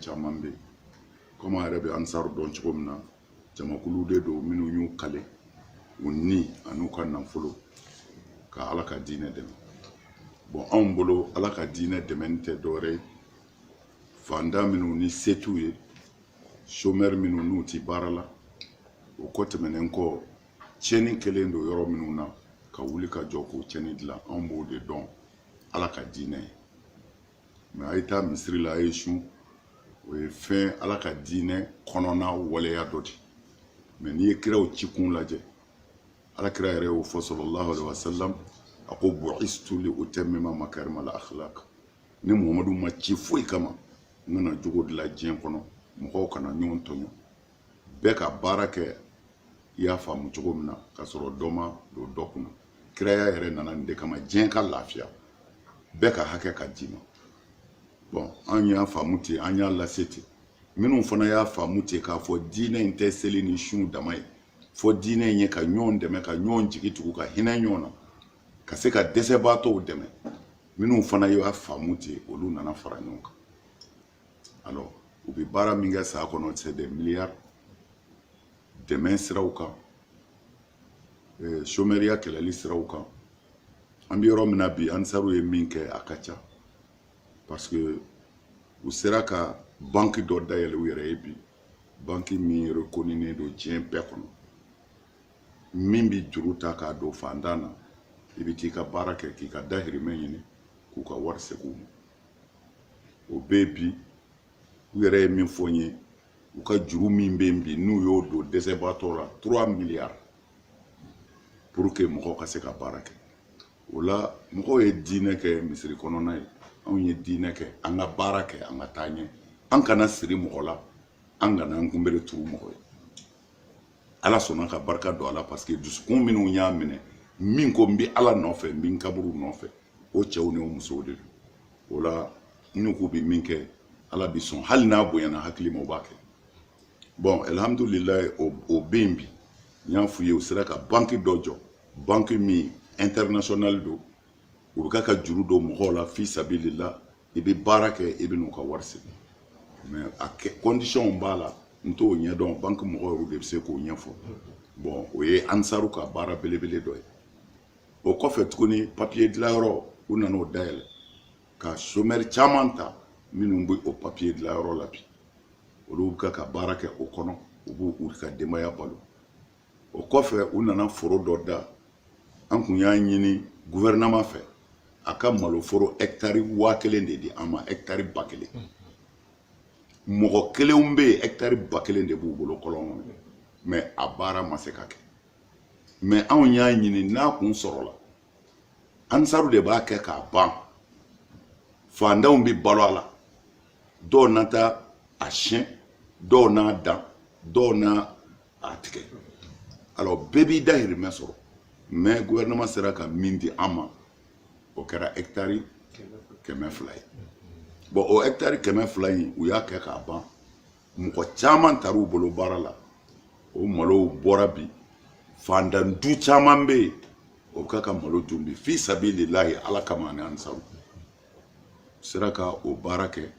caman bɛ yen komi an yɛrɛ bɛ ansaru dɔn cogo min na jamakulu de don minnu y'u kale u ni an'u ka nafolo ka ala ka diinɛ dɛmɛ bon anw bolo ala ka diinɛ dɛmɛni tɛ dɔwɛrɛ ye fantan minnu ni se t'u ye somɛri minnu n'u ti baara la o kɔ tɛmɛnen kɔ tiɲɛni kɛlen don yɔrɔ minnu na ka wuli ka jɔ k'o tiɲɛni dilan anw b'o de dɔn ala ka diinɛ ye mais a ye taa misiri la a ye sun o ye fɛn ala ka diinɛ kɔnɔna waleya dɔ de mais n'i ye kiraw ci kun lajɛ ala kira yɛrɛ y'o fɔ sallallahu alaihi wasallam a ko bu'istu li utammima makarima al akhlaq ne muhamadu ma ci foyi kama n ka na jogo dilan diɲɛ kɔnɔ mɔgɔw kana ɲɔgɔn tɔɲɔ bɛɛ ka baara kɛ i y'a faamu cogo min na ka sɔrɔ dɔ ma don dɔ kunna kiraya yɛrɛ nana nin de kama diɲɛ ka lafiya bɛɛ ka hakɛ ka d'i ma bon an y'a faamu ten an y'a lase ten minnu fana y'a faamu ten k'a fɔ diinɛ in tɛ seli ni sun dama ye fɔ diinɛ in ye ka ɲɔgɔn dɛmɛ ka ɲɔgɔn jigi tugu ka hinɛ ɲɔgɔn na ka se ka dɛsɛbaatɔw dɛmɛ minnu fana y'a faamu ten olu nana fara ɲɔgɔn kan alors u bɛ baara min kɛ san kɔnɔ c'est des milliards dɛmɛ siraw kan euh, chômeuria kɛlɛli siraw kan an bɛ yɔrɔ min na bi ansaru ye min kɛ a ka ca parce que u sera ka banki dɔ dayɛlɛ u yɛrɛ ye bi banki min reconinen don diɲɛ bɛɛ kɔnɔ min bɛ juru ta k'a don fantan na i bɛ t'i ka baara kɛ k'i ka dahirimɛ ɲini k'u ka wari segin u ma o bɛ yen bi u yɛrɛ ye min fɔ n ye u ka juru min bɛ yen bi n'u y'o don dɛsɛbaatɔ la trois milliards pour que mɔgɔw ka se ka baara kɛ o la mɔgɔw ye diinɛ kɛ misiri kɔnɔna ye anw ye diinɛ kɛ an ka baara kɛ an ka taa ɲɛ an kana siri mɔgɔ la an kana an kunbere turu mɔgɔ ye ala sɔnna ka barika don a la parce que dusukun minnu y'a minɛ min ko n bɛ ala nɔfɛ n bɛ n kaburu nɔfɛ o cɛw ni o musow de don o la n'u k'u bɛ min kɛ ala bɛ sɔn hali n'a bonyana hakili ma o b'a kɛ bon alihamudulilayi o bɛ yen bi n y'a f'u ye u sera ka banki dɔ jɔ banki min international don u bɛ ka ka juru don mɔgɔw la fi sabilillah i bɛ baara kɛ i bɛ n'u ka wari segin mais a kɛ kɔndisɔnw b'a la n t'o ɲɛdɔn banki mɔgɔw yɛrɛ de bɛ se k'o ɲɛfɔ bon o ye ansaru ka baara belebele dɔ ye o kɔfɛ tuguni papiye dilanyɔrɔ u nan'o dayɛlɛ ka somɛri caman ta minnu bɛ o papiye dilanyɔrɔ la bi olu bɛ ka ka baara kɛ o kɔnɔ u b'u ka denbaya balo o kɔfɛ u nana foro dɔ da an kun y'a ɲini guvɛrɛnama fɛ a ka maloforo ɛktari waa kelen de di an ma ɛktari ba kelen mɔgɔ kelenw bɛ yen ɛktari ba kelen de b'u bolo kɔlɔn kɔnɔ mɛ a baara ma se ka kɛ mɛ anw y'a ɲini n'a kun sɔrɔla ansaru de b'a kɛ k'a ban fantanw bɛ balo a la dɔw na taa a siyɛn dɔw n'a dan dɔw na a tigɛ alors bɛɛ b'i dahirimɛ sɔrɔ mais gouvernement sera ka min di an ma o kɛra hectare kɛmɛ fila ye bon o hectare kɛmɛ fila in u y'a kɛ k'a ban mɔgɔ caman tar'u bolo baara la o malow bɔra bi fandan du caman bɛ yen o bɛ ka malo dun bi fi sabililahi ala kama ani ansaru sera ka o baara kɛ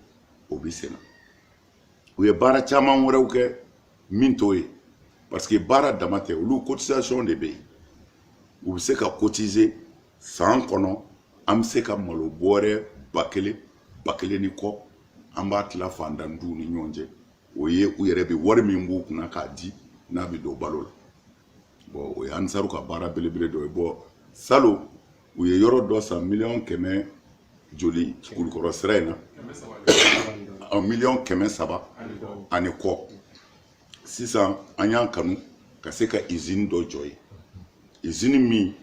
o bi senna u ye baara caman wɛrɛw kɛ min t'o ye parce que baara dama tɛ olu cotisation de bɛ yen u bɛ se ka cotiser san kɔnɔ an bɛ se ka malo bɔrɛ ba kelen ba kelen ni kɔ an b'a tila fantan duw ni ɲɔgɔn cɛ o ye u yɛrɛ bɛ wari min b'u kunna k'a di n'a bɛ don balo la bon o ye ansaru ka baara belebele dɔ ye bon salon u ye yɔrɔ dɔ san miliyɔn kɛmɛ joli kulukɔrɔ sira in na ɔ miliyɔn kɛmɛ saba ani kɔ sisan an y'a kanu ka se ka izini dɔ jɔ ye izini min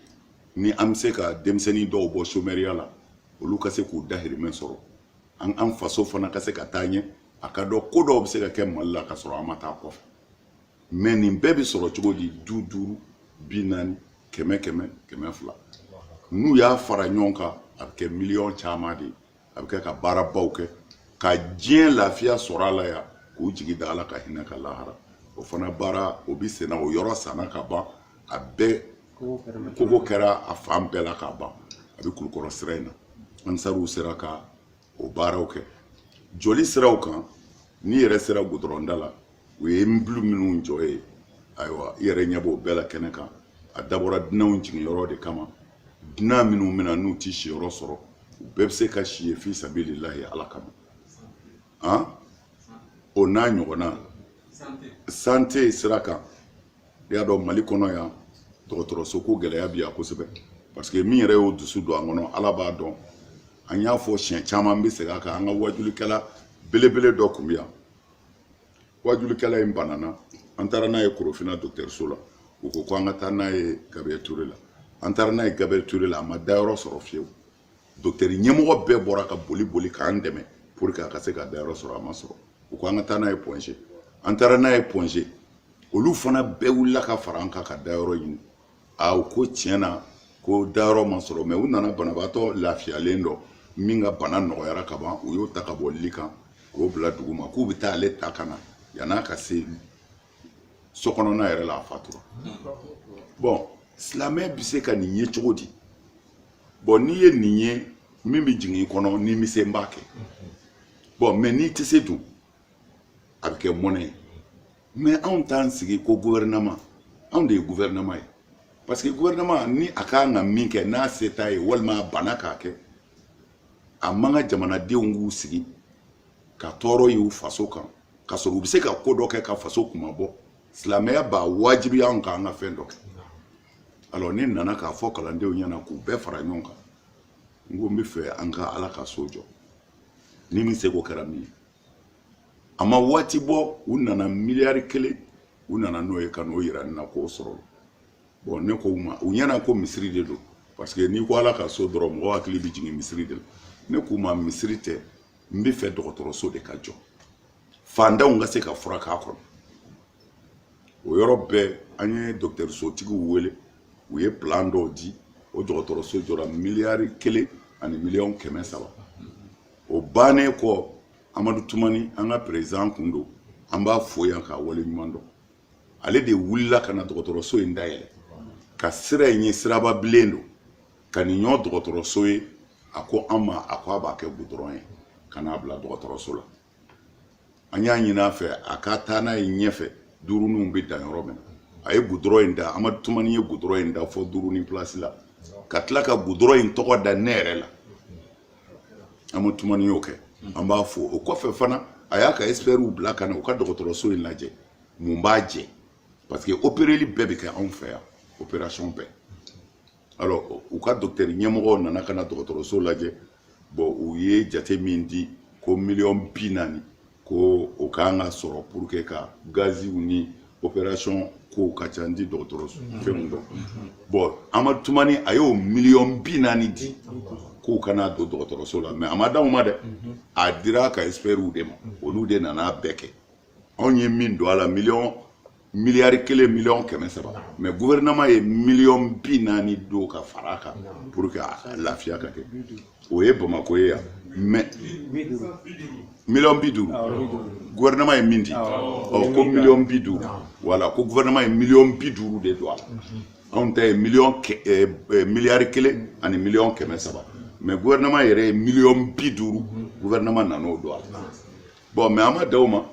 ni an bɛ se ka denmisɛnnin dɔw bɔ somɛriya la olu ka se k'u dahirimɛ sɔrɔ an an faso fana ka se ka taa ɲɛ a ka dɔn ko dɔw bɛ se ka kɛ mali la ka sɔrɔ an ma taa kɔfɛ mɛ nin bɛɛ bɛ sɔrɔ cogo di bi duuru bi naani kɛmɛ kɛmɛ kɛmɛ fila n'u y'a fara ɲɔgɔn kan a bɛ kɛ miliyɔn caman de ye a bɛ kɛ ka baarabaw kɛ ka diɲɛ lafiya sɔrɔ a la yan k'u jigi da ala ka hinɛ kan lahara o fana baara o bɛ senna o yɔrɔ sanna ka ban a bɛɛ kogo kɛra a fan bɛɛ la ka ban a bɛ kulukɔrɔ sira in na ansaruw sera ka o baaraw kɛ joli siraw kan n'i yɛrɛ sera gudɔrɔnda la u ye immeuble minnu jɔ ye ayiwa i yɛrɛ ɲɛ b'o bɛɛ la kɛnɛ kan a dabɔra dunanw jiginyɔrɔ de kama dunan minnu bɛ na n'u ti siyɔrɔ sɔrɔ u bɛɛ bɛ se ka si ye fi sabililahi ala kama an o n'a ɲɔgɔnna santé sira kan i y'a dɔn mali kɔnɔ yan dɔgɔtɔrɔso ko gɛlɛya bi yan kosɛbɛ parce que min yɛrɛ y'o dusu don an kɔnɔ ala b'a dɔn an y'a fɔ siɲɛ caman n bɛ segin a kan an ka wajulikɛla belebele dɔ kun bɛ yan wajulikɛla in banana an taara n'a ye korofina dɔgɔtɔrɔso la u ko ko an ka taa n'a ye gabriel ture la an taara n'a ye gabriel ture la a ma dayɔrɔ sɔrɔ fiyewu dɔgɔtɔrɔ ɲɛmɔgɔ bɛɛ bɔra ka boli boli k'an dɛmɛ pour que a ka se ka dayɔrɔ sɔrɔ a ma sɔrɔ u ko an ka taa n'a ye point g an taara n'a ye point g olu fana bɛɛ wulila ka fara an kan ka dayɔrɔ ɲini a u ko tiɲɛ na ko dayɔrɔ ma sɔrɔ mais u nana banabaatɔ lafiyalen dɔ min ka bana nɔgɔyara ka ban u y'o ta ka bɔ li kan k'o bila duguma k'u bɛ taa ale ta ka na yan'a ka se so kɔnɔna yɛrɛ la a fatura bon silamɛ bɛ se ka nin ye cogo di bon n'i ye nin ye min bɛ jigin i kɔnɔ n'i bɛ se i b'a kɛ bon mais n'i tɛ se dun a bɛ kɛ mɔnɛ ye mais anw t'an sigi ko guvɛrɛnama anw de ye guvɛrɛnama ye parce que guvɛrɛnama ni a kan ka min kɛ n'a se t'a ye walima a banna k'a kɛ a man kan jamanadenw k'u sigi ka tɔɔrɔ y'u faso kan ka sɔrɔ u bɛ se ka ko dɔ kɛ ka faso kunmabɔ silamɛya b'a wajibiya anw kan an ka fɛn dɔ kɛ alors ne nana k'a fɔ kalandenw ɲɛna k'u bɛɛ fara ɲɔgɔn kan n ko n b'a fɛ an ka ala ka so jɔ ni min seko kɛra min ye a ma waati bɔ u nana miliyari kelen u nana n'o ye ka n'o yira ne na k'o sɔrɔ bon ne ko u ma u ɲɛna ko misiri de don parce que n'i ko ala ka so dɔrɔn mɔgɔ hakili bɛ jigin misiri de la ne k'u ma misiri tɛ n b'a fɛ dɔgɔtɔrɔso de ka jɔ fantanw ka se ka furakɛ a kɔnɔ o yɔrɔ bɛɛ an ye dɔgɔtɔrɔsotigiw wele u ye plan dɔw di o dɔgɔtɔrɔso jɔra miliyari kelen ani miliyɔn kɛmɛ saba o bannen kɔ amadu tumani an ka peresidan kun don an b'a fo yan k'a waleɲumandɔn ale de wulila ka na dɔgɔtɔrɔso in dayɛlɛ ka sira in ye siraba bilen don ka nin ɲɔ dɔgɔtɔrɔso ye a ko an ma a ko a b'a kɛ gudɔrɔn ye ka n'a bila dɔgɔtɔrɔso la an y'a ɲin'a fɛ a ka taa n'a ye ɲɛfɛ duuruninw bɛ dan yɔrɔ min na a ye gudɔrɔn in da amadu tumani ye gudɔrɔn in da fɔ duurunin pilasi la ka tila ka gudɔrɔn in tɔgɔ da ne yɛrɛ la amadu tumani y'o kɛ an b'a fo o kɔfɛ fana a y'a ka expertw bila ka na u ka dɔgɔtɔrɔso in lajɛ mun b'a jɛ parce que opereli bɛɛ bɛ kɛ anw fɛ yan operation bɛɛ alors u ka docteur ɲɛmɔgɔw nana ka na dɔgɔtɔrɔso lajɛ bon u ye jate min di ko miliyɔn bi naani ko o kan ka sɔrɔ pour que ka gaziw ni operation kow ka ca n tɛ dɔgɔtɔrɔso fɛnw dɔn bon amadu tumani a y'o miliyɔn bi naani di k'u ka na don dɔgɔtɔrɔso la mais a ma d'anw ma dɛ a dira a ka expertw de ma olu de nana bɛɛ kɛ anw ye min don a la miliyɔn miliyari kelen miliyɔn kɛmɛ saba mais guvɛrɛnɛman ye miliyɔn bi naani don ka fara a kan pour que a lafiya ka kɛ o ye bamako ye yan mais miliyɔn bi duuru guvɛrɛnɛman ye min di ɔ ko miliyɔn bi duuru voilà ko guvɛrɛnɛman ye miliyɔn bi duuru de don a la anw ta ye miliyɔn eh, eh, miliyari kelen ani miliyɔn kɛmɛ saba mais guvɛrɛnɛman yɛrɛ ye miliyɔn bi duuru guvɛrɛnɛman nan'o don a la bon mais an ma da o ma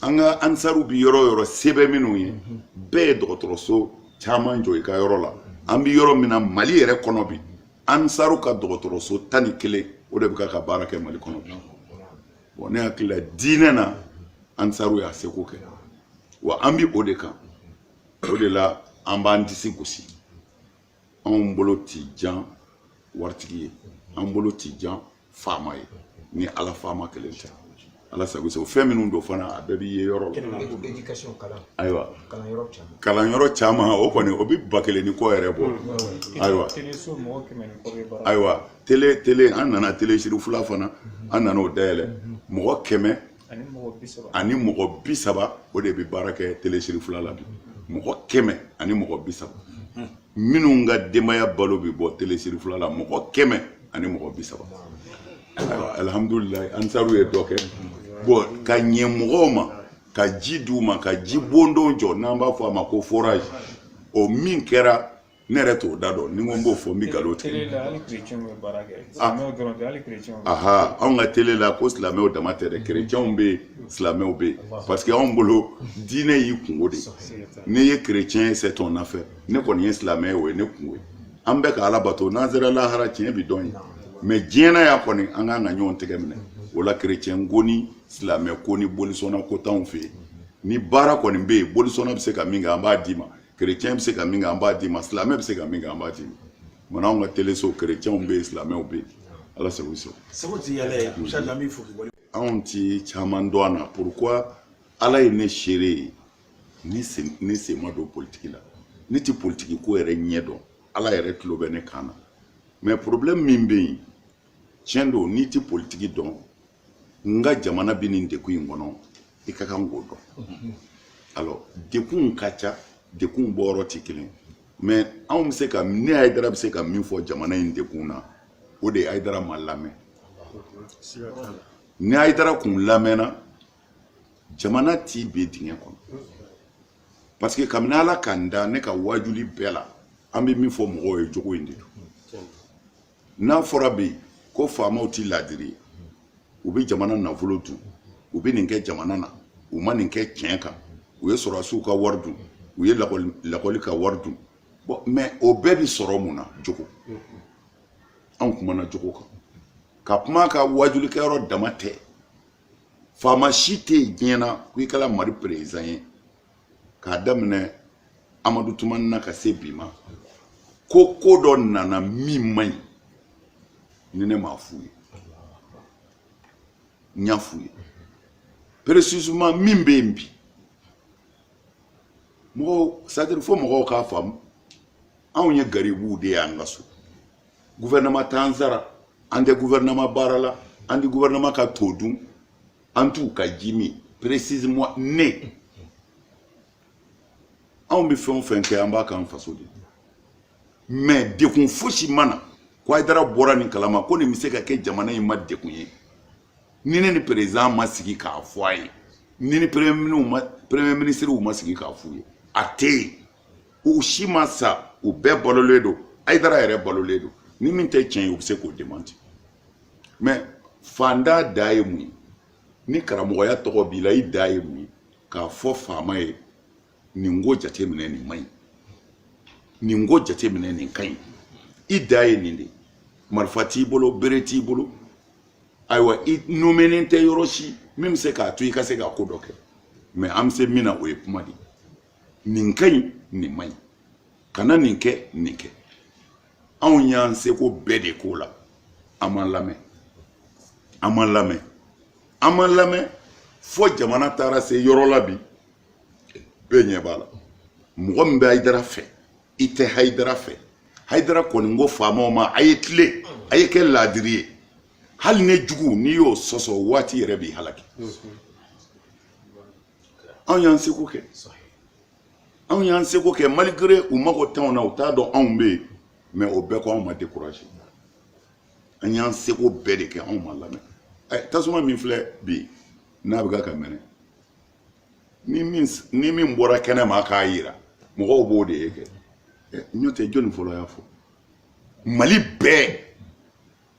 an ka ansaru bi yɔrɔ yɔrɔ sɛbɛ minnu ye bɛɛ ye dɔgɔtɔrɔso caman jɔ i ka yɔrɔ la an bi yɔrɔ min na mali yɛrɛ kɔnɔ bi ansaru ka dɔgɔtɔrɔso tan ni kelen o de bɛ ka baara kɛ mali kɔnɔ bi bon ne hakili la diinɛ na ansaru y'a seko kɛ wa an bi o de kan o de la an b'an disi gosi anw bolo ti jan waritigi ye an bolo ti jan faama ye ni ala faama kelen tɛ ala sago sago fɛn minnu don fana a bɛɛ bi ye yɔrɔ la ayiwa kalanyɔrɔ caman o kɔni o bɛ ba kelen ni kɔ yɛrɛ bɔ ayiwa ayiwa tele tele an nana tele sirifula fana an nana o dayɛlɛ mɔgɔ kɛmɛ ani mɔgɔ bi saba o de bɛ baara kɛ tele sirifula la bi mɔgɔ kɛmɛ ani mɔgɔ bi saba minnu ka denbaya balo bɛ bɔ tele sirifula la mɔgɔ kɛmɛ ani mɔgɔ bi saba alihamudulilayi ansaru ye dɔ kɛ bon ka ɲɛ mɔgɔw ma ka ji d'u ma ka ji bondon jɔ n'an b'a fɔ a ma ko forage o min kɛra ne yɛrɛ t'o da dɔn ni ko n b'o fɔ n bɛ nkalon tigɛ ah. aha anw ka tele la ko silamɛw dama tɛ dɛ kerecɛnw bɛ yen silamɛw bɛ yen parce que anw bolo diinɛ y'i kungo de n'i ye kerecɛn ye c'est ton affaire ne kɔni ye silamɛ ye o ye ne kungo ye an bɛ ka ala bato n'an sera lahara tiɲɛ bi dɔn yen mais diɲɛ na yan kɔni an k'an ka ɲɔgɔn tɛgɛ minɛ o la kerecɛn ko ni silamɛ ko ni bolisɔnna ko t'anw fɛ yen ni baara kɔni bɛ yen bolisɔnna bɛ se ka min kɛ an b'a d'i ma chrétien bɛ se ka min kɛ an b'a d'i ma silamɛ bɛ se ka min kɛ an b'a d'i ma mɔna anw ka teleso chrétienw bɛ yen silamɛw bɛ yen ala sago i sago. sago ti yala ye mashala n b'i fo k'i wale. anw ti caman dɔn a na pourquoi ala ye ne seere ye ne sen ma don politiki la ne ti politiki ko yɛrɛ ɲɛ dɔn ala yɛrɛ tulo bɛ ne kan na mais problème min bɛ yen tiɲɛ don n'i tɛ politiki dɔn nka jamana bɛ nin dekun in kɔnɔ i ka kan k'o dɔn alors dekunw ka ca dekunw bɔyɔrɔ tɛ kelen mais anw bɛ se ka ne ayidara bɛ se ka min fɔ jamana in dekun na o de ye ayidara ma lamɛn ni ayidara kun lamɛnna jamana ti bin dingɛ kɔnɔ parce que kabini ala ka n da ne ka waajuli bɛɛ la an bɛ min fɔ mɔgɔw ye jogo in de don n'a fɔra bi ko faamaw tɛ laadiri ye u bɛ jamana nafolo dun u bɛ nin kɛ jamana na u ma nin kɛ tiɲɛ kan u ye sɔrɔdasiw ka wari dun u ye lakɔli ka wari dun bon mɛ o bɛɛ bɛ sɔrɔ mun na jogo anw kumana jogo kan ka kuma ka waajulikɛyɔrɔ dama tɛ faama si tɛ yen diɲɛ na ko i kɛra mali perezidan ye k'a daminɛ amadu tumani na ka se bi ma ko ko dɔ nana min man ɲi ni ne m'a f'u ye n y'a f'u ye précisément min bɛ yen bi mɔgɔw c'est-à-dire fo mɔgɔw k'a faamu anw ye garibuw de y'an ka so gouvernement t'an sara an tɛ gouvernement baara la an tɛ gouvernement ka to dun an t'u ka ji min précisément ne Anw bɛ fɛn o fɛn kɛ an b'a k'an faso de mais degun fosi ma na ko Ayidara bɔra nin kalama ko nin bɛ se ka kɛ jamana in ma degun ye ni ne ni président ma sigi k'a fɔ a ye ni n ni premier ministre ma sigi k'a f'u ye a tɛ yen u si ma sa u bɛɛ balolen don Ayidara yɛrɛ balolen don ni min tɛ tiɲɛ ye u bɛ se k'o démentir mɛ faantan dan ye mun ye ni karamɔgɔya tɔgɔ b'i la i dan ye mun ye k'a fɔ faama ye nin ko jateminɛ nin man ɲi nin ko jateminɛ nin ka ɲi i dan ye nin de ye marifa t'i bolo bere t'i bolo ayiwa i nomenen tɛ yɔrɔ si min bɛ se k'a to i ka se ka ko dɔ kɛ mɛ an bɛ se min na o ye kuma de ye nin ka ɲi nin man ɲi kana nin kɛ nin kɛ anw y'an seko bɛɛ de k'o la an ma lamɛn an ma lamɛn an ma lamɛn fo jamana taara se yɔrɔ la bi bɛɛ ɲɛ b'a la mɔgɔ min bɛ ayidara fɛ i tɛ hayidara fɛ hayidara kɔni ko faamaw ma a ye tilen a ye kɛ laadiri ye hali ne jugu n'i y'o sɔsɔ waati yɛrɛ b'i halaki anw y'an seko kɛ anw y'an seko kɛ malgré u mago t'anw na u t'a dɔn anw bɛ yen mɛ o bɛɛ kɔ anw ma découragé an y'an seko bɛɛ de kɛ anw ma lamɛn ɛ tasuma min filɛ bi n'a bɛ ka ka mɛnɛ ni min bɔra kɛnɛ ma k'a yira mɔgɔw b'o de ye kɛ ɛ n'o tɛ jɔnni fɔlɔ y'a fɔ mali bɛɛ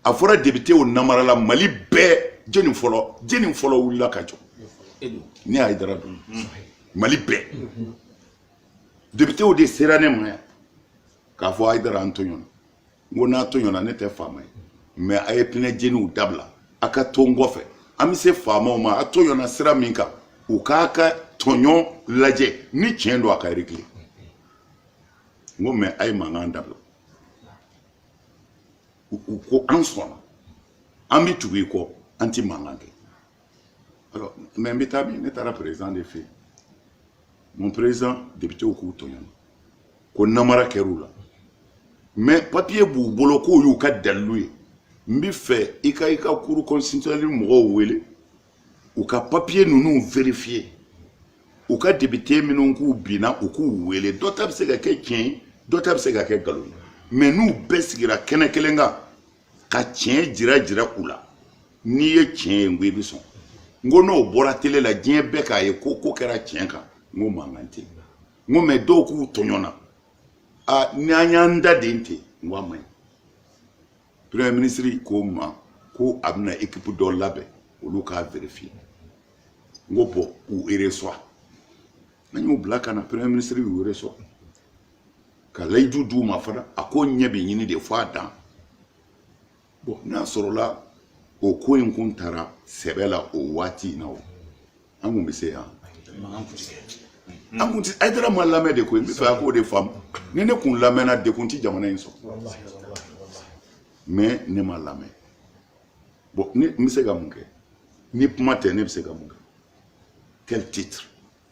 a fɔra depitew namara la mali bɛɛ jɔnni fɔlɔ jɔnni fɔlɔ wulila ka jɔ ne ayidara don mali bɛɛ depitew de sera ne ma yan k'a fɔ ayidara an tɔɲɔna n ko n'a tɔɲɔna ne tɛ faama ye mɛ a ye pinɛ jeniw dabila a ka to n kɔfɛ an bɛ se faamaw ma a tɔɲɔna sira min kan u k'a ka tɔɲɔ lajɛ ni tiɲɛ don a ka régler n ko mɛ a ye mankan dabila u ko an sɔnna an bɛ tugu i kɔ an tɛ mankan kɛ alors mais n bɛ taa min ne taara président de fɛ yen mon président députéw k'u tɔɲɔna ko namara kɛr'u la mais papier b'u bolo k'o y'u ka dalilu ye n bɛ fɛ i ka i ka cour constitutionnelle mɔgɔw wele u ka papiye ninnu verifiye u ka depite minnu k'u binna u k'u wele dɔ ta bɛ se ka kɛ tiɲɛ ye dɔ ta bɛ se ka kɛ nkalon ye mɛ n'u bɛɛ sigira kɛnɛ kelen kan ka tiɲɛ jira jira u la n'i ye tiɲɛ ye n ko i bɛ sɔn n ko n'o bɔra tele la diɲɛ bɛɛ k'a ye ko ko kɛra tiɲɛ kan n ko mankan tɛ yen n ko mɛ dɔw k'u tɔɲɔna a n'an y'an da den ten n ko a man ɲi premier ministre ko n ma ko a bɛna ekipu dɔ labɛn olu k'a verifiye n ko bɔn u ereswa an y'u bila ka na premier ministre y'u ereswa ka layidu d'u ma fana a ko ɲɛ bɛ ɲini de fo a dan bɔn n'a sɔrɔla o ko in kun taara sɛbɛ la o waati in na o an kun bɛ se yan an kun ti ayidara ma lamɛn de koyi n bɛ fɛ a k'o de faamu ni ne kun lamɛnna de kun ti jamana in sɔrɔ mɛ ne ma lamɛn bɔn ne n bɛ se ka mun kɛ ni kuma tɛ ne bɛ se ka mun kɛ quel titre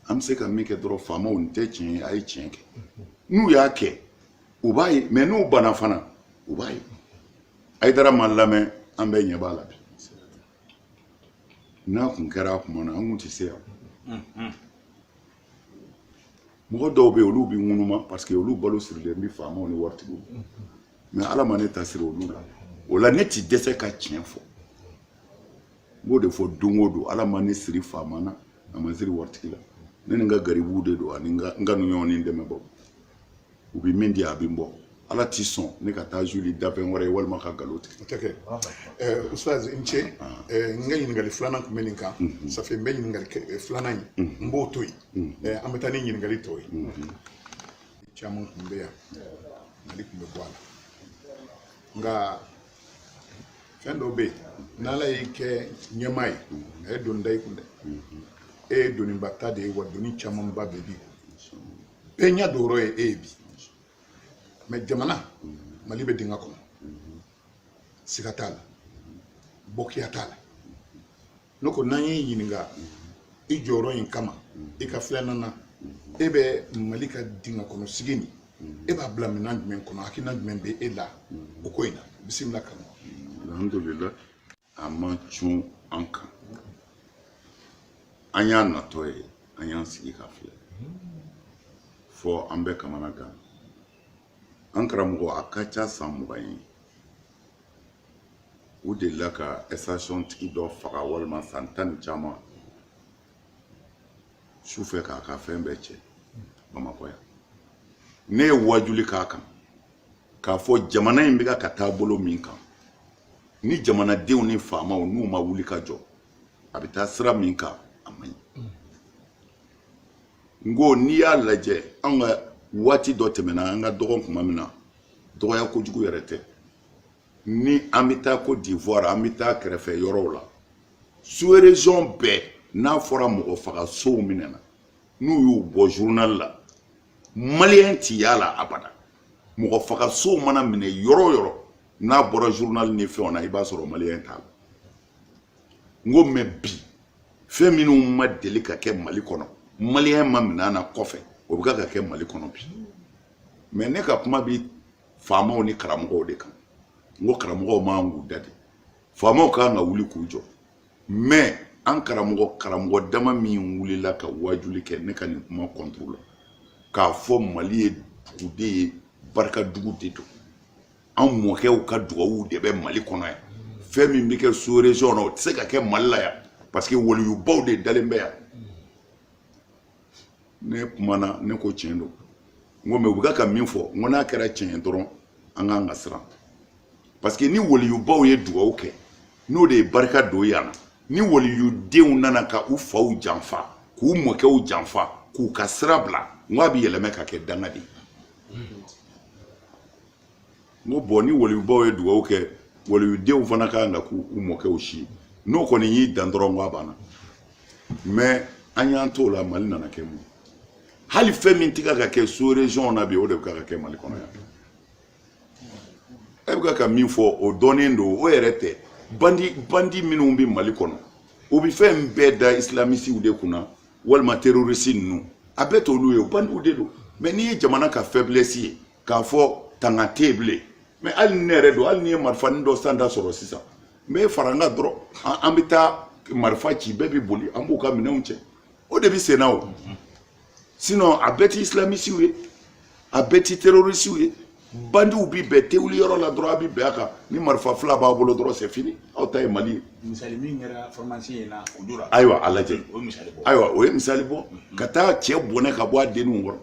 an bɛ se ka min kɛ dɔrɔn faamaw nin tɛ tiɲɛ ye a ye tiɲɛ kɛ n'u y'a kɛ u b'a ye mɛ n'u banna fana u b'a ye ayidara ma lamɛn an bɛɛ ɲɛ b'a la bi n'a kun kɛra a kuma na an kun tɛ se yan mɔgɔ dɔw bɛ yen olu bɛ ŋunuma paseke olu balo sirilen bɛ faamaw ni waritigiw mɛ ala ma ne ta siri olu la o la ne ti dɛsɛ ka tiɲɛ fɔ n b'o de fɔ don o don ala ma ne siri faama na a ma siri waritigi la ne ni n ka garibuw de don ani n ka n kanuɲɔgɔn ni n dɛmɛbaaw u bɛ min di a bɛ n bɔ ala ti sɔn ne ka taa suuli danfɛn wɛrɛ ye walima ka nkalon tigɛ o tɛ kɛ ɛɛ ustaz i ni ce ɛɛ n ka ɲininkali filanan tun bɛ nin kan safɛ n bɛ ɲininkali filanan in n b'o to yen ɛɛ an bɛ taa ni ɲininkali tɔw ye caman tun bɛ yan ɲininkali tun bɛ bɔ a la nka fɛn dɔ bɛ yen n'ala y'i kɛ ɲɛmaa ye a ye doni da i kun dɛ e ye doniba ta de ye wa doni camanba bɛ bi bɛɛ ɲɛ don yɔrɔ ye e ye bi mɛ jamana mali bɛ dingɛ kɔnɔ siga t'a la bɔkiya t'a la ne ko n'an y'i ɲininka i jɔyɔrɔ in kama i ka filanan na e bɛ mali ka dingɛ kɔnɔ sigi nin e b'a bila minɛn jumɛn kɔnɔ hakilina jumɛn bɛ e la o ko in na bisimila kama alhamdulilayi a ma cun an kan an y'a natɔ ye an y'an sigi k'a filɛ fɔ an bɛ kamana gan an karamɔgɔ a ka ca san mugan ye u delila ka ɛstasiyɔn tigi dɔ faga walima san tan ni caman su fɛ k'a ka fɛn bɛɛ cɛ bamakɔ yan ne ye wajuli k'a kan k'a fɔ jamana in bɛ ka taa bolo min kan ni jamanadenw ni faamaw n'u ma wuli ka jɔ a bɛ taa sira min kan a man ɲi n ko n'i y'a lajɛ an ka waati dɔ tɛmɛna an ka dɔgɔn kuma min na dɔgɔya kojugu yɛrɛ tɛ ni an bɛ taa kɔdiwari an bɛ taa kɛrɛfɛ yɔrɔw la sous région bɛɛ n'a fɔra mɔgɔ faga sonw minɛna n'u y'u bɔ zurunali la maliyɛn ti y'a la abada mɔgɔ faga sonw mana minɛ yɔrɔ o yɔrɔ n'a bɔra journal ni fɛnw na i b'a sɔrɔ maliyɛn t'a la n ko mɛ bi fɛn minnu ma deli ka kɛ mali kɔnɔ maliyɛn ma minɛn na kɔfɛ o bɛ ka kɛ mali kɔnɔ bi mɛ ne ka kuma bi faamaw ni karamɔgɔw de kan n ko karamɔgɔw man kan k'u da de faamaw ka kan ka wuli k'u jɔ mɛ an karamɔgɔ karamɔgɔ dama min wulila ka waajuli kɛ ne ka nin kuma kɔntoro la k'a fɔ mali ye dugu de ye barika dugu de don an mɔkɛw ka dugawu de bɛ mali kɔnɔ yan fɛn min bɛ kɛ sous région na o tɛ se ka kɛ mali la yan parce que waliyubaw de dalen bɛ yan ne kumana ne ko tiɲɛ don n ko mɛ u bɛ ka min fɔ n ko n'a kɛra tiɲɛ ye dɔrɔn an ka kan ka siran parce que ni waliyubaw ye dugawu kɛ n'o de ye barika don yan na ni waliyudenw nana ka u faw janfa k'u mɔkɛw janfa k'u ka sira bila n ko a bɛ yɛlɛmɛ ka kɛ danga de ye n ko bɔn ni waliyubaw ye dugawu kɛ waliyudenw fana ka kan ka k'u u mɔkɛw si ye n'o kɔni y'i dan dɔrɔn n ko a banna mɛ an y'an t'o la mali nana kɛ mun hali fɛn min tɛ ka ka kɛ sous région na bi o de bɛ ka ka kɛ mali kɔnɔ yan e bɛ ka min fɔ o dɔnnen don o yɛrɛ tɛ bandi bandi minnu bɛ mali kɔnɔ o bɛ fɛn bɛɛ da islamisiw de kunna walima terorisi ninnu a bɛɛ t'olu ye o bandiw de don mɛ n'i ye jamana ka fɛblɛsi ye k'a fɔ tanga tɛ yen bilen mɛ hali ni ne yɛrɛ don hali ni n ye marifanin dɔ san da sɔrɔ sisan n bɛ fara n kan dɔrɔn an bɛ taa marifa ci bɛɛ bɛ boli an b'u ka minɛnw cɛ o de bɛ senna o sinɔn a bɛɛ ti isilamisiw ye a bɛɛ ti terorisiw ye bandiw bi bɛɛ tɛ wuli yɔrɔ la dɔrɔn a bi bɛn a kan ni marifa fila b'a bolo dɔrɔn c'est fini aw t'a ye mali ye misali min kɛra formation in na o dora ayiwa a lajɛ ayiwa o ye misali bɔ ka taa cɛ bɔnɛ ka bɔ a denninw kɔrɔ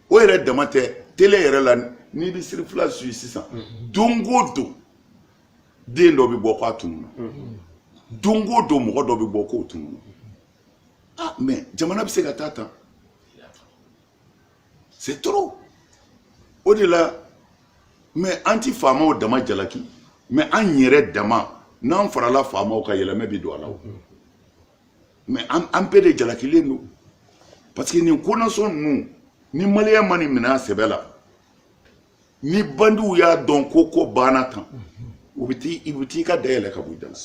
o yɛrɛ dama tɛ tele yɛrɛ la n'i bɛ serifula suyi sisan don o don den dɔ bɛ bɔ k'a tununna don o don mɔgɔ dɔ bɛ bɔ k'o tununna mɛ jamana bɛ se ka taa tan c'est trop o de la mɛ an ti faamaw dama jalaki mɛ an yɛrɛ dama n'an farala faamaw kan yɛlɛmɛ bi don a la o mɛ an bɛɛ de jalakilen don parce que nin konasɔn ninnu ni maliyɛn ma nin minɛ a sɛbɛ la ni bandiw y'a dɔn ko ko banna tan u bɛ t'i u bɛ t'i ka da yɛlɛ ka bɔ i da la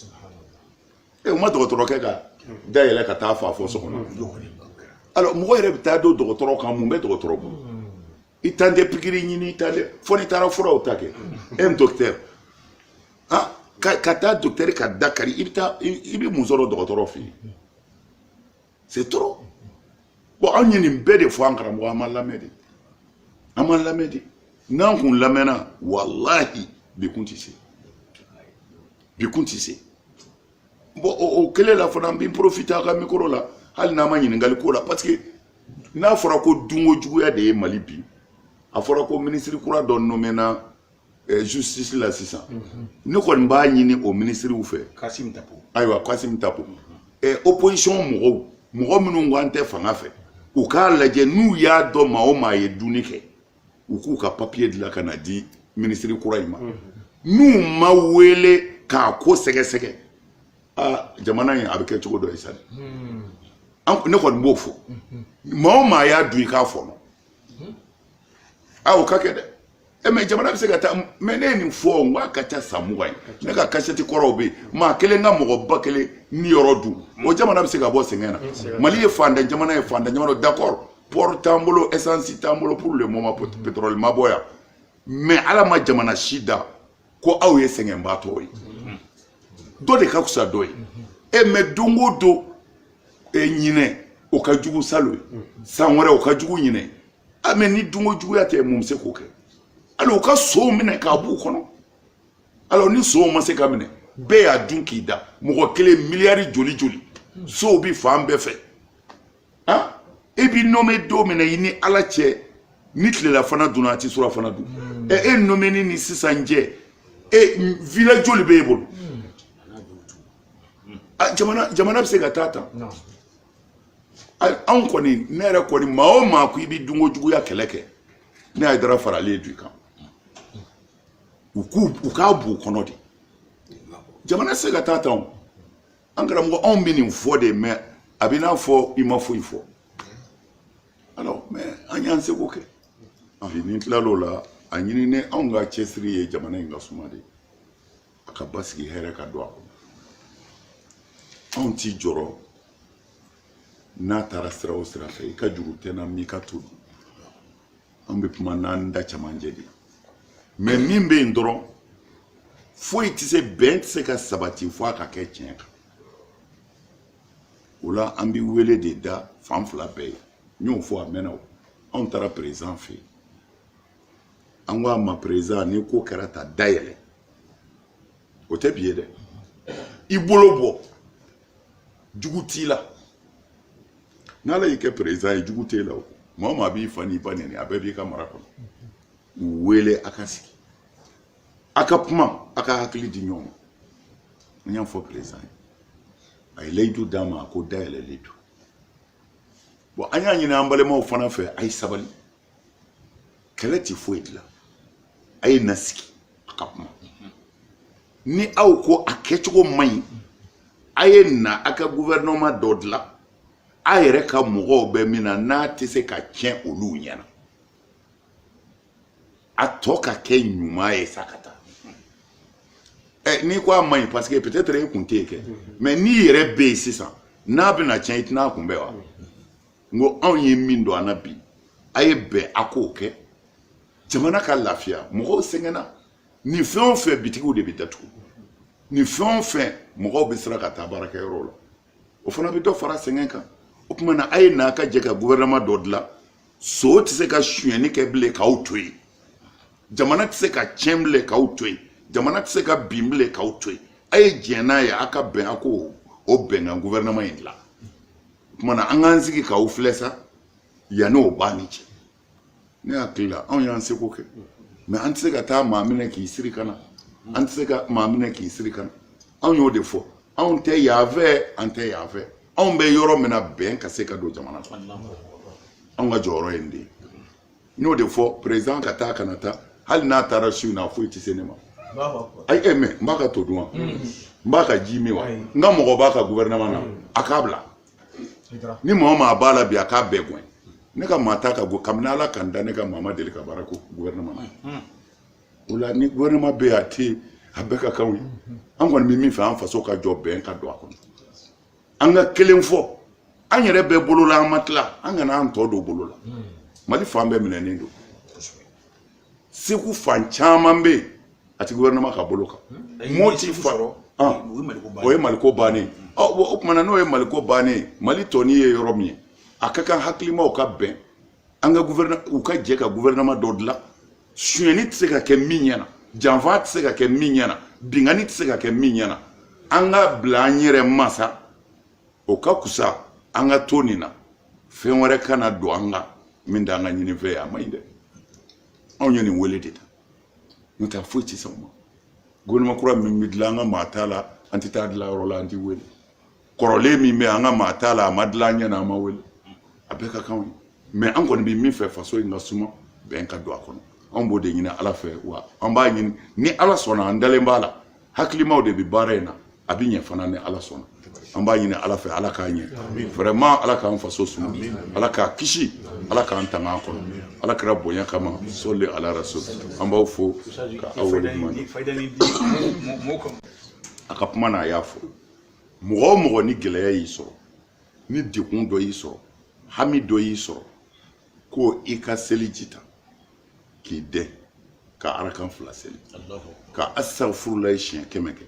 ɛ u ma dɔgɔtɔrɔkɛ ka da yɛlɛ ka t'a faga fɔ so kɔnɔ alors mɔgɔ yɛrɛ bɛ taa don dɔgɔtɔrɔ kan mun bɛ dɔgɔtɔrɔ bolo i tan tɛ pikiri ɲini i tan tɛ fo n'i taara furaw ta kɛ un docteur ah ka taa docteur ka da kari i bɛ taa i bɛ mun sɔrɔ dɔgɔtɔrɔ fɛ yen c'est trop bon an ye nin bɛɛ de fɔ an karamɔgɔ an ma lamɛn de an ma lamɛn de n'an kun lamɛnna walahi bi kun tɛ se bi kun tɛ se. bon o kelen la fana n bɛ n profite a ka mikoro la hali n'a ma ɲininkali k'o la parce que n'a fɔra ko dunko juguya de ye mali bi a fɔra ko minisiri kura dɔ nomena eh, justice la sisan mhm. ne kɔni b'a ɲini o minisiriw fɛ kasim tapo ayiwa kasim tapo mhm. eh, opposition mɔgɔw mɔgɔ minnu ko an tɛ fanga fɛ u k'a lajɛ n'u y'a dɔn maa o maa ye dunni kɛ u k'u ka papiye dilan ka na di minisiri kura in ma n'u ma wele k'a ko sɛgɛsɛgɛ aa jamana in a bɛ kɛ cogo dɔ ye sa dɛ ne kɔni b'o fɔ maa o maa y'a dun i k'a fɔnɔ a o ka kɛ dɛ e mɛ jamana bɛ se ka taa mɛ ne ye nin fɔ n k'a ka ca san mugan ye ne ka kasɛti kɔrɔw bɛ yen maa kelen ka mɔgɔ ba kelen niyɔrɔ dun o jamana bɛ se ka bɔ sɛgɛn na mali ye fantan jamana ye fantan jamana d'accord pɔri t'an bolo esansi t'an bolo pour le moment pétrole ma bɔ yan mɛ ala ma jamana si da ko aw ye sɛgɛnbaatɔ ye dɔ de ka fisa dɔ ye e eh, mɛ don o don e eh, ɲinɛ o ka jugu salon ye san wɛrɛ o ka jugu ɲinɛ a ah, mɛ ni dunko juguya tɛ mun bɛ se k'o kɛ alors u ka sonw minɛ k'a b'u kɔnɔ alors ni sonw ma se ka minɛ bɛɛ y'a dun k'i da mɔgɔ kelen miliyari joli joli sow bi fan bɛɛ fɛ han e bi nome don min na i ni ala cɛ ni tilelafana dunna a ti surafana dun hmm. ɛ e nomeni ni sisan cɛ e villa joli b'e bolo hmm. ah, jamana jamana bɛ se ka taa tan anw kɔni ne yɛrɛ kɔni maa o maa ko i bɛ dunko juguya kɛlɛ kɛ ne hayidara faralen d'u kan u k'u u k'a b'u kɔnɔ de jamana tɛ se ka taa tan o an karamɔgɔ anw bɛ nin fɔ de mais a bɛ n'a fɔ i ma foyi fɔ alors mais an y'an seko kɛ bi n'i tilal'o la a ɲini ne anw ka cɛsiri ye jamana in ka suma de a ka basigi hɛrɛ ka don a kɔnɔ anw t'i jɔrɔ n'a taara sira o sira fɛ i ka juru tɛ n na n m'i ka to dun an bɛ kuma n'an da cɛmancɛ de mais min bɛ yen dɔrɔn foyi tɛ se bɛn tɛ se ka sabati fo a ka kɛ tiɲɛ kan o la an bɛ wele de da fan fila bɛɛ ye n y'o fɔ a mɛnna o anw taara président fɛ yen an ko a ma président ni ko kɛra tan dayɛlɛ o tɛ bi ye dɛ i bolo bɔ jugu t'i la n'ala y'i kɛ président ye jugu t'e la o maa o maa b'i fa n'i ba nɛni a bɛɛ b'i ka mara kɔnɔ u wele a ka sigi a ka kuma a ka hakili di ɲɔgɔn ma n y'a fɔ président ye a ye layidu d'an ma a ko da yɛlɛlen don bon an y'a ɲini an balimaw fana fɛ a ye sabali kɛlɛ tɛ foyi dilan a ye na sigi a ka kuma ni aw ko a kɛcogo man ɲi a ye na a ka gouvernement dɔ dilan a yɛrɛ ka mɔgɔw bɛ min na n'a tɛ se ka tiɲɛ olu ɲɛna a tɔ ka kɛ ɲuman ye sa ka taa ɛ n'i ko a man ɲi parce que peut-être e kun tɛ yen kɛ mais n'i yɛrɛ bɛ yen sisan n'a bɛna tiɲɛ i tɛna a kunbɛn wa n ko anw ye min don an na bi a ye bɛn a k'o kɛ jamana ka lafiya mɔgɔw sɛgɛnna Ni fɛn o fɛn bitigiw de bɛ datugu ni fɛn o fɛn mɔgɔw bɛ siran ka taa baarakɛyɔrɔw la o fana bɛ dɔ fara sɛgɛn kan o tuma na a ye na a ka jɛ ka gouvernement dɔ dilan son tɛ se ka sonyɛni kɛ bilen k'aw to yen jamana tɛ se ka tiɲɛ bilen k'aw to yen jamana tɛ se ka bin bilen k'aw to yen a ye diɲɛ n'a ye a ka bɛn a k'o bɛnkan gouvernement in dilan o tuma na an k'an sigi k'aw filɛ sa yanni o b'a ni cɛ ne hakili la anw y'an seko kɛ mais an tɛ se ka taa maa minɛ k'i siri ka na an tɛ se ka maa minɛ k'i siri ka na anw y'o de fɔ anw tɛ yan fɛ an tɛ yan fɛ anw bɛ yɔrɔ min na bɛn ka se ka don jamana kɔnɔ anw ka jɔyɔrɔ ye nin de ye n y'o de fɔ président ka taa kana taa hali n'a taara su in na foyi tɛ se ne ma ayi ɛ mais n b'a ka to dun wa n b'a ka ji min wa n ka mɔgɔ b'a ka gouvernement na a k'a bila ni maa maa b'a la bi a k'a bɛɛ gɛn ne ka maa t'a ka go kabini ala ka n da ne ka maa ma deli ka baara kɛ gouvernement na hmm. o la ni gouvernement bɛ yen a tɛ a bɛɛ ka kan anw ye hmm. an kɔni bɛ min fɛ an faso ka jɔ bɛn ka don a kɔnɔ an ka kelen fɔ an yɛrɛ bɛɛ bolo la an ma tila an kana an tɔ don bolo la hmm. mali fan bɛɛ minɛnen don segu fan caman bɛ yen a ti gouvernement ka bolo kan hmm. moti fa ah. o ye maliko bannen ah, o tuma na n'o ye maliko bannen mali tɔni ye yɔrɔ min ye a ka kan hakilimaw ka bɛn an ka u ka jɛ ka gouvernement dɔ dilan sonyɛni tɛ se ka kɛ min ɲɛna janfa tɛ se ka kɛ min ɲɛna binkanni tɛ se ka kɛ min ɲɛna an ka bila an yɛrɛ ma sa o ka kusa an ka to nin na fɛn wɛrɛ kana don an kan min t'an ka ɲinifɛn ye a man ɲi dɛ anw ye nin wele de ta n'o tɛ foyi tɛ sɔn o ma gouvernement kura min bɛ dilan an ka maa t'a la an tɛ taa dilan yɔrɔ la an tɛ wele kɔrɔlen min bɛ an ka maa t'a la a ma dilan an ɲɛ na an ma wele a bɛɛ ka kan anw ye mais an kɔni bɛ min fɛ faso in ka suma bɛn ka don a kɔnɔ anw b'o de ɲini ala fɛ wa an b'a ɲini ni ala sɔnna an dalen b'a la hakilimaw de bɛ baara in na a bɛ ɲɛ fana ni ala sɔnna an b'a ɲini ala fɛ ala k'a ɲɛ vraiment ala k'an faso suma ala k'a kisi ala k'an tanga a kɔnɔ ala kira bonya kama sɔli ala rasul an b'aw fo ka aw waleɲuman a ka kuma na a y'a fɔ mɔgɔ o mɔgɔ ni gɛlɛya y'i sɔrɔ ni degun dɔ y'i sɔrɔ hami dɔ y'i sɔrɔ ko i ka seliji ta k'i dɛn ka arakan fila seli ka asafurulayi siɲɛ kɛmɛ kɛ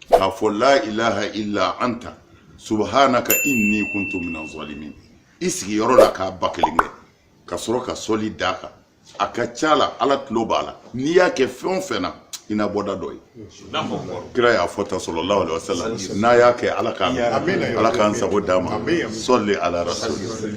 k'a fɔ la ilaha illa anta subhanaka inni kuntu minaz zalimin i sigiyɔrɔ la k'a ba kelen kɛ ka sɔrɔ ka sɔli d'a kan a ka ca la ala tulo b'a la n'i y'a kɛ fɛn o fɛn na i na bɔda dɔ ye kira y'a fɔ tan sallallahu alaihi wasallam n'a y'a kɛ ala k'a ala k'an sago d'an ma sɔli ala rasul